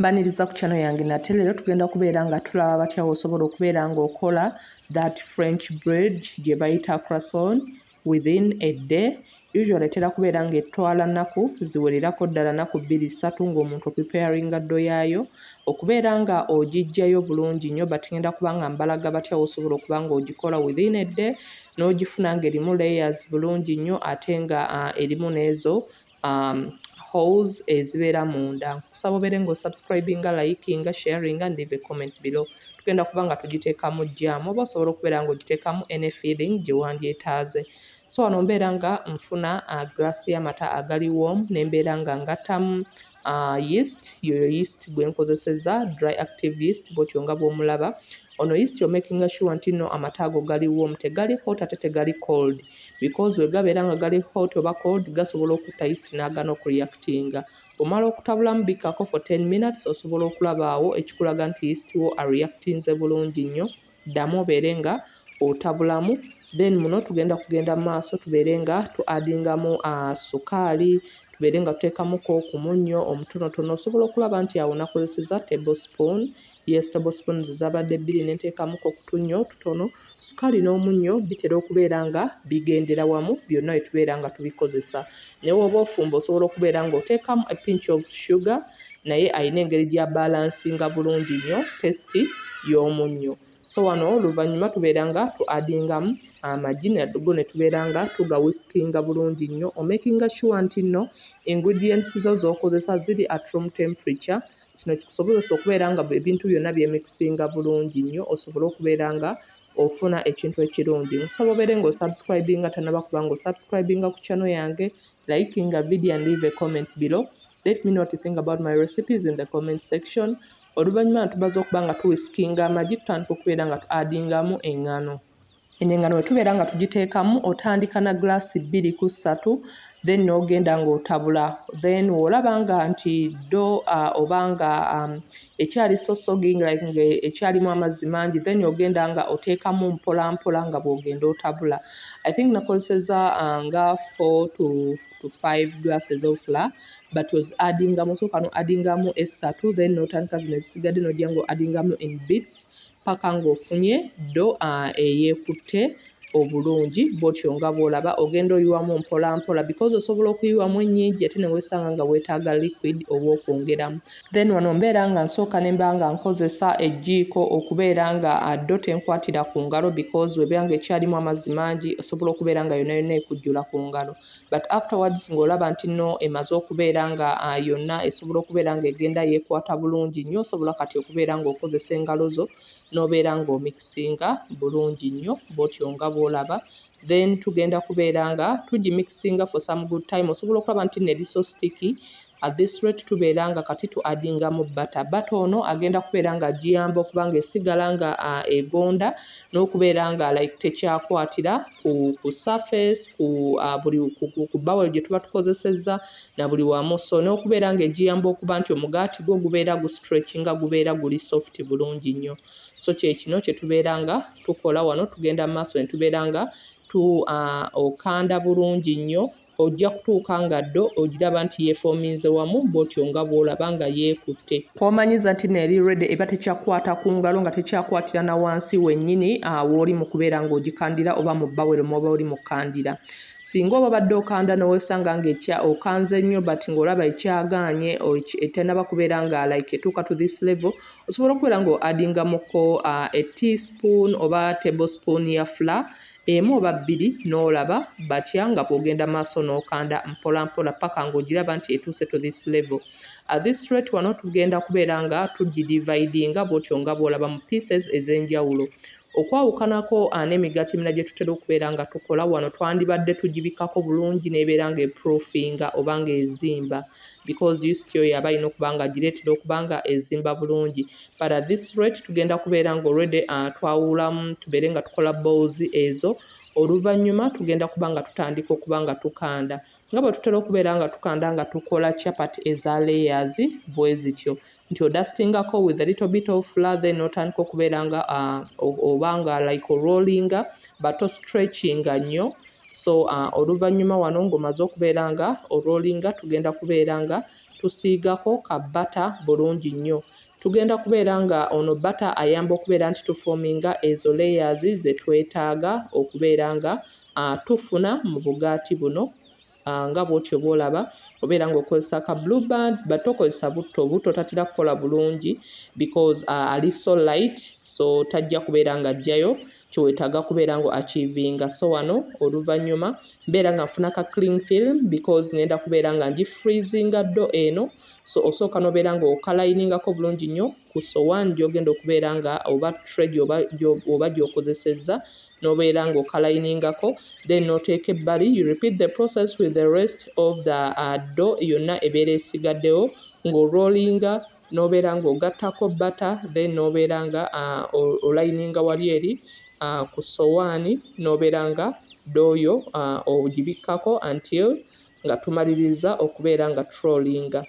mbaniriza ku channel yange nate leero tugenda kubeera nga tulaba batya wosobola okubeera nga okola that french bread gye bayita crason within a day usually etera kubeera nga etwala nnaku ziwererako ddala naku bbiri ssatu ngaomuntu opipearinga ddo yaayo okubeera nga ogijjayo bulungi nnyo but ngenda kuba nga mbalaga batya wosobola okuba nga ogikola within a day n'ogifuna nga erimu layers bulungi nnyo ate nga uh, erimu n'ezo um, holes ezibeera munda nkusaba obeere nga osubscribinga likinga sharinga and leave a comment below tugenda kuba nga tugiteekamu jaamu oba osobola okubeera nga ogiteekamu any feeling gye wandyetaaze so wano mbeera nga nfuna uh, glass y'amata agali warm ne mbeera nga ngattamu uh, yeast yoyo yeast gwe nkozeseza dry active yeast bwotyo nga bwomulaba Ono is to making sure nti no amata ago gali warm tegali hot ate tegali cold because wegabeera nga gali hot oba cold gasobola okutta yeast n'agana okureactinga omala okutabulamu bikkako for 10 minutes osobola okulabaawo ekikulaga nti yeast wo areactinze bulungi nnyo ddamu obeere nga otabulamu then muno tugenda kugenda mu maaso tubeere nga tu adingamu uh, sukaali tubeere nga tuteekamuko ku munnyo omutonotono osobola okulaba nti awo nakozeseza table spoon Yes tablespoons zabadde bbiri ne nteekamu kokutunnyo okutono. Sukaali n'omunnyo bitera okubeera nga bigendera wamu byonna bye tubeera nga tubikozesa. Ne bw'oba ofumba osobola okubeera ng'oteekamu a pinch of sugar naye alina engeri gya balansinga bulungi nnyo tesiti y'omunnyo. So wano oluvannyuma tubeera nga tu adingamu amagi nago ne tubeera nga tugawisikinga bulungi nnyo omakinga sure nti nno ingredients zo z'okozesa ziri at room temperature Kino kikusobozesa okubeera nga ebintu byonna byemikisinga bulungi nnyo osobole okubeera nga ofuna ekintu ekirungi nkusaba obeere nga osubscribinga tanaba kuba nga osubscribinga ku channel yange likinga video and leave a comment below let me know what you think about my recipes in the comment section oluvannyuma natubaza okuba nga tuwisikinga amagi tutandika okubeera nga tu adingamu engano Eno engano bwe tubeera nga tugiteekamu otandika na gulaasi bbiri ku ssatu then n'ogenda ng'otabula then olaba nga nti ddo uh, oba nga um, ekyali sosoging like nga ekyalimu amazzi mangi then ogenda nga oteekamu mpola mpola nga bw'ogenda otabula i think nakozeseza uh, nga four to, to five glasses of fla but was addingamu sooka no addingamu essatu then n'otandika zino ezisigadde n'ojja ng'o addingamu in bits ppaka ng'ofunye ddo eyeekutte obulungi bwotyo nga bw'olaba ogenda oyiwamu mpolampola because osobola okuyiwamu ennyingi ate ne weesanga nga weetaaga liquid oba okwongeramu then wano mbeera nga nsooka ne mba nga nkozesa ejjiiko okubeera nga ddo tenkwatira ku ngalo because webeera nga ekyalimu amazzi mangi osobola okubeera nga yona yona ekujjula ku ngalo but afterwards ng'olaba nti no emaze okubeera nga ah, yonna esobola okubeera nga egenda yekwata bulungi nnyo osobola kati okubeera ng'okozesa engalo zo n'obeera ng'omikisinga bulungi nnyo bwotyo nga bwolaba then tugenda kubeera nga tugimikisinga for some good time osobola okulaba nti neliso sticky At this rate tubeera nga kati tu addingamu bata bata ono agenda kubeera nga agiyamba okuba nga esigala nga uh, egonda n'okubeera nga like tekyakwatira ku, ku surface ku, uh, buli, ku, ku, ku bawel gye tuba tukozesezza na buli wamu so n'okubeera nga egiyamba okuba nti omugaati gwo gubeera gu stretch nga gubeera guli soft bulungi nnyo so kyekino kye tubeera nga tukola wano tugenda mu maaso ne tubeera nga tu uh, okanda bulungi nnyo Ojja kutuuka nga ddo ogiraba nti yeefoominze wamu bw'otyo nga bw'olaba nga yeekutte. Kw'omanyiza nti n'eri ready eba tekyakukwata ku ngalo nga tekyakwatira na wansi wennyini w'oli mu kubeera ng'ogikandira oba mu bbawero mw'oba oli mu kukandira. Ssinga oba obadde okanda ne weesanga nga ekya okanze nnyo but ng'olaba ekyagaanye etannaba kubeera nga like etuuka to this level, osobola okubeera ng'o-addingamuko a teaspoon oba tablespoon ya flour emu oba bbiri n'olaba batya nga bw'ogenda maaso n'okanda mpolampola ppaka ng'ogiraba nti etuuse to this level. At this rate wano tugenda kubeera nga tugidividinga bw'otyo nga bw'olaba mu pieces ez'enjawulo. Okwawukanako ah, n'emigaati emirala gye tutera okubeera nga tukola wano twandibadde tugibikkako bulungi n'ebeera ng'eproofinga oba ng'ezimba because yusitioyo aba alina okuba nga agireetera okuba nga ezimba bulungi but at this rate tugenda kubeera nga already uh, twawulamu tubeere nga tukola balls ezo oluvannyuma tugenda kuba nga tutandika okuba nga tukanda nga bwe tutera okubeera nga tukanda nga tukola chapat eza layers bwe zityo nti odastingako with a little bit of flour then otandika okubeera nga uh, oba nga like orollinga but ostretchinga nnyo so uh, oluvannyuma wano ng'omaze okubeera nga orollinga tugenda kubeera nga tusiigako ka bata bulungi nnyo. Tugenda kubeera nga ono bata ayamba okubeera nti tufominga ezo layers zetwetaaga okubeera nga uh, tufuna mu bugaati buno uh, nga bwotyo bwolaba obeera nga okozesa ka blue band but tokozesa butto butto tatera kukola bulungi because uh, ali so light so tajja kubeera nga ajjayo kyewetaaga kubeera nga achievinga so wano oluvannyuma mbeera nga nfuna ka cling film because ngenda kubeera nga ngi freezinga ddo eno so osooka nobeera nga okalayiningako bulungi nnyo ku sowani gyogenda okubeera nga oba tre oba gyokozesezza nobeera nga okalayiningako then noteeka ebbali you repeat the process with the rest of the uh, do yonna ebeera esigaddewo ng'orollinga nobeera nga ogattako butter then nobeera nga olayininga wali eri ku sowaani nobeera nga dooyo ogibikkako until nga tumalirizza okubeera nga turolinga.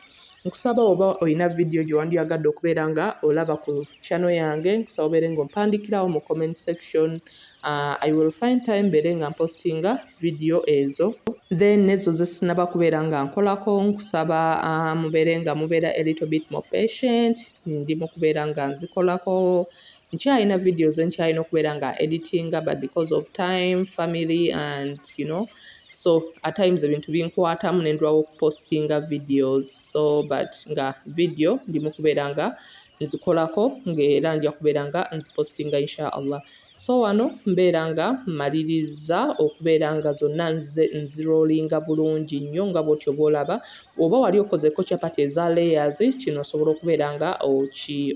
Nkusaba oba olina vidiyo gye wandyagadde okubeera nga olaba ku channel yange nkusaba obeere nga ompandikirawo mu comment section. Uh, I will find time mbeere nga mpostinga video ezo then nezo zesinaba kubeera nga nkolako nkusaba uh, mubeere nga mubeera a little bit more patient ndi mu kubeera nga nzikolako nkyalina videos enkyalina okubeera nga editinga but because of time family and you know so at times ebintu binkwatamu nendwawo okupostinga videos so but nga video ndi mu kubeera nga nzikolako ng'era nja kubeera nga nzipositinga insha allah so wano mbeera nga mmaliriza okubeera nga zonna nze nziroolinga bulungi nnyo nga bw'otyo oba olaba oba wali okozeko chapati eza layers kino osobola okubeera nga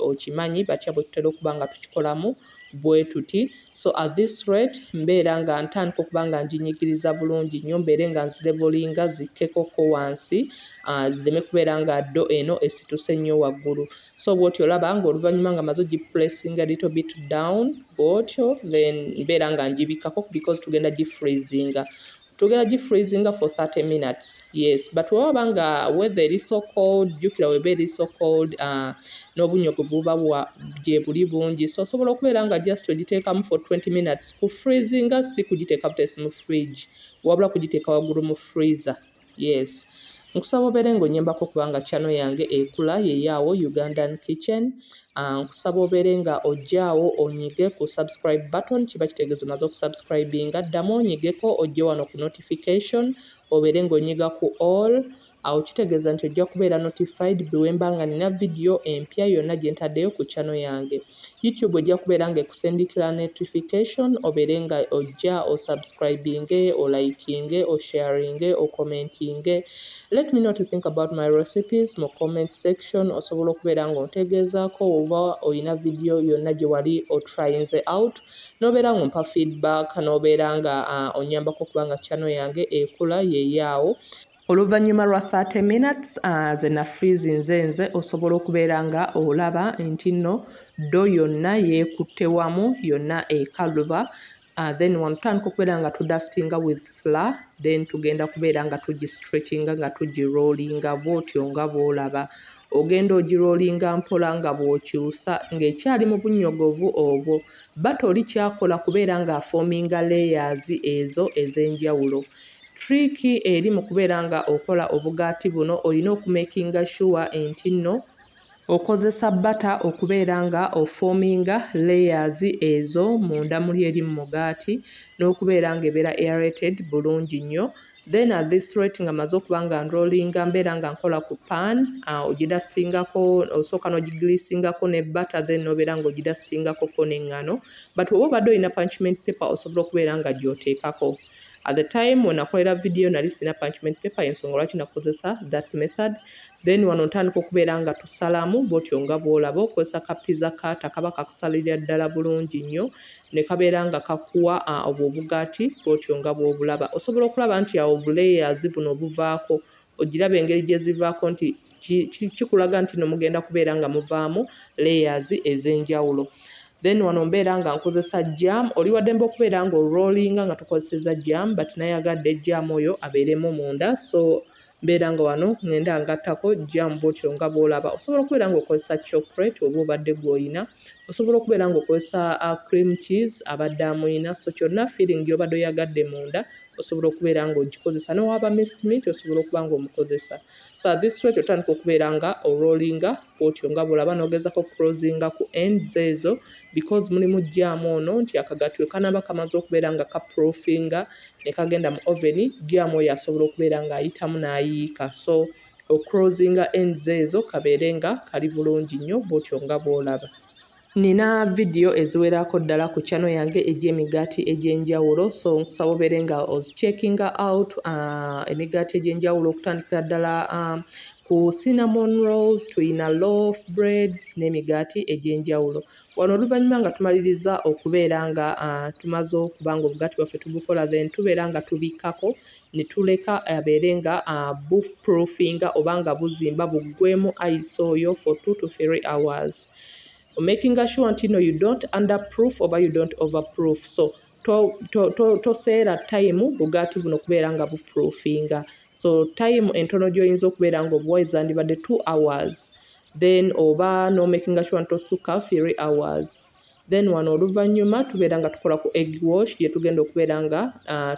okimanyi batya bwe tutera okuba nga tukikolamu bwetuti so at this rate mbeera nga ntandika okuba nga njinyigiriza bulungi nnyo mbeere nga nzirevolinga zikkekokko wansi ah, zireme kubeera nga ddo eno esituse nnyo waggulu so bwotyo olaba nga oluvannyuma nga maze ogiplacinga little bit down bwotyo then mbeera nga ngibikkako because tugenda gifreezinga Tugera gi freezinga for 30 minutes yes but wewaba nga weather eri so cold jukira weba eri so cold uh, n'obunyogovu buba gyebuli bungi so osobola okubeera nga just ogiteekamu for 20 minutes ku freezinga si kugiteeka butesi mu fridge wabula kugiteeka waggulu mu freezer yes Nkusaba obeere ng'onnyambako kubanga channel yange ekula yeyo awo Ugandan Kitchen. Uh, nkusaba obeere nga ojjaawo onyige ku subscribe button kiba kitegeeza omaze okusubscribinga. Ddamu onyigeko ojje wano ku notification obeere ng'onyiga ku all awo kitegeeza nti ojja kubeera notified bwe wemba nga nina vidiyo empya yonna gye ntaddeyo ku channel yange. YouTube ojja kubeera nga ekusindikira notification obeere nga ojja osubscribinge olikinge osharinge okomentinge let me know to think about my recipes mu comment section osobola okubeera nga ontegeezaako oba olina vidiyo yonna gye wali otrayinze out nobeera nga ompa feedback nobeera nga uh, onyambako okubanga channel yange ekula yeyaawo Oluvannyuma lwa 30 minutes uh, ze nafiizi nze nze osobola okubeera nga olaba nti nno ddo yonna yeekutte wamu yonna ekaluba uh, then wano tutandika okubeera nga tudustinga with fla then tugenda kubeera nga tugistretchinga nga tugirollinga bwotyo nga bwolaba ogenda ogirollinga mpola nga bw'okyusa ng'ekyali mu bunnyogovu obwo batoli kyakola kubeera ng'afoominga layers ezo ez'enjawulo Trick eri mu kubeera nga okola obugaati buno olina okumakinga sure enti nno okozesa bata okubeera nga ofominga layers ezo munda muli eri mu mugaati n'okubeera nga ebeera aerated bulungi nnyo then at this rate nga maze okuba nga nrolinga mbeera nga nkola ku pan uh, ogidasitingako osooka n'ogigilisingako ne bata then n'obeera nga ogidasitingako ko n'eŋŋano but oba obadde olina punchment paper osobola okubeera nga gyoteekako at the time when akolera video nali sina punchment paper ensonga lwaki nakozesa that method then wano ntandika okubeera nga tusalamu bwotyo nga bwolaba okozesa kapiza kata kaba kakusalirira ddala bulungi nnyo ne kabeera nga kakuwa obwo obugaati bwotyo nga bwobulaba osobola okulaba nti awo bulayers buno obuvaako ogiraba engeri gye zivaako nti kikulaga nti no mugenda kubeera nga muvaamu layers ez'enjawulo. Then wano mbeera nga nkozesa jam, oli waddembe okubeera nga olrolinga nga tukozeseza jam but nayagadde jam oyo abeeremu munda so mbeera nga wano ngenda ngattako jam bwotyo nga bwolaba. Osobola okubeera nga okozesa chocolate oba obadde gwoyina, osobola okubeera nga okozesa uh, cream cheese abadde amuyina, so kyonna feeling gyobadde oyagadde munda osobola okubeera nga ogikozesa newaba mist mint osobola okuba nga omukozesa so at this rate otandika okubeera nga orolinga bwotyo nga bwolaba nogezako crosinga ku ends ezo because mulimu jaamu ono nti akagatwe kanaba kamaze okubeera nga ka profinga nekagenda mu oven jaamu oyo asobola okubeera nga ayitamu nayiika so ocrosinga ends ezo kabeere nga kali bulungi nnyo bwotyo nga bwolaba Nina vidiyo eziwerako ddala ku kyano yange egy'emigaati egy'enjawulo so nkusaba obeere nga ozicheckinga out uh, emigaati egy'enjawulo okutandikira ddala um, ku cinnamon rolls tulina loaf breads n'emigaati egy'enjawulo wano oluvannyuma nga tumaliriza okubeera nga uh, tumaze okuba nga obugaati bwaffe tubukola then tubeera nga tubikkako ne tuleka abeere nga uh, buproofinga oba nga buzimba buggwemu ice oyo for two to three hours omakinga sure nti no you don't under proof oba you don't over proof so toseera tayimu bugaati buno kubeera nga buproofinga so tayimu entono gyoyinza okubeera nga obuwa ezandibadde two hours then oba nomakinga sure nti osukka three hours then wano oluvannyuma tubeera nga tukola ku egg wash gye tugenda okubeera nga uh,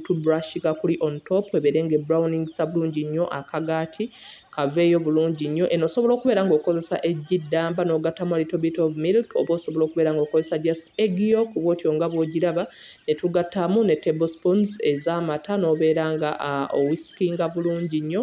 tubrushinga kuli on top ebeere nga ebrowning sabulungi nnyo akagaati kaveeyo bulungi nnyo eno osobola okubeera ng'okozesa eggi ddamba n'ogattamu a little bit of milk oba osobola okubeera ng'okozesa just egg yo kuba otyo nga bw'ogiraba ne tugattamu ne table spoons ez'amata n'obeera nga uh, owisikinga bulungi nnyo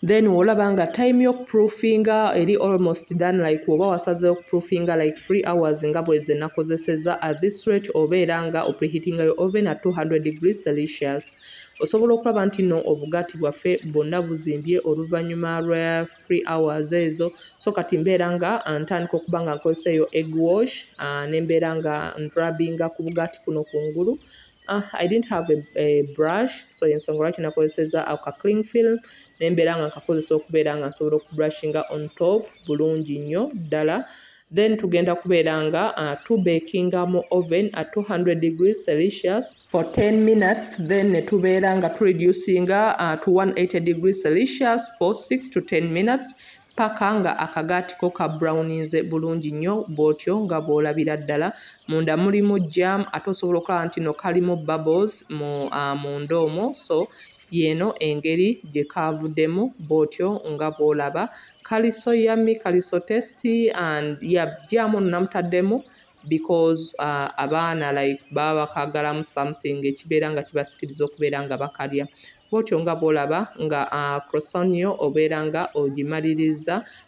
then olaba nga time yokuproofinga eri almost done like oba wasaze okuproofinga like free hours nga bweze nakozeseza at this rate obeera nga opreheatinga yo oven at 200 degrees celsius Osobola okulaba nti no obugaati bwaffe bwonna buzimbye oluvannyuma lwa three hours ezo, so kati mbeera nga ntandika okuba nga nkozesa eyo egg wash uh, ne mbeera nga ndrabinga ku bugaati kuno kungulu Uh, I didn't have a, a brush so ensonga lwaki nakozeseza ako ka cling film nembeera nga nkakozesa okubeera nga nsobola okubrushing on top bulungi nnyo ddala uh, then tugenda kubeera nga uh, tu bakinga mu oven at 200 degrees celsius for 10 minutes then netubeera nga tu reducinga uh, to 180 degrees celsius for 6 to 10 minutes paka nga akagaati ko ka browninze bulungi nnyo bw'otyo nga bw'olabira ddala munda mulimu jam ate osobola okulaba nti no kalimu bubbles mu uh, munda omwo so Y'eno engeri gye kaavudemu bw'otyo nga bw'olaba. Kaliso ya mi kaliso test and yeah jjaamu ono namutaddemu because abaana like baba bakaagalamu something ekibeera nga kibasikiriza okubeera nga bakalya. Bw'otyo nga bw'olaba nga croissant yo obeera nga ogimaliriza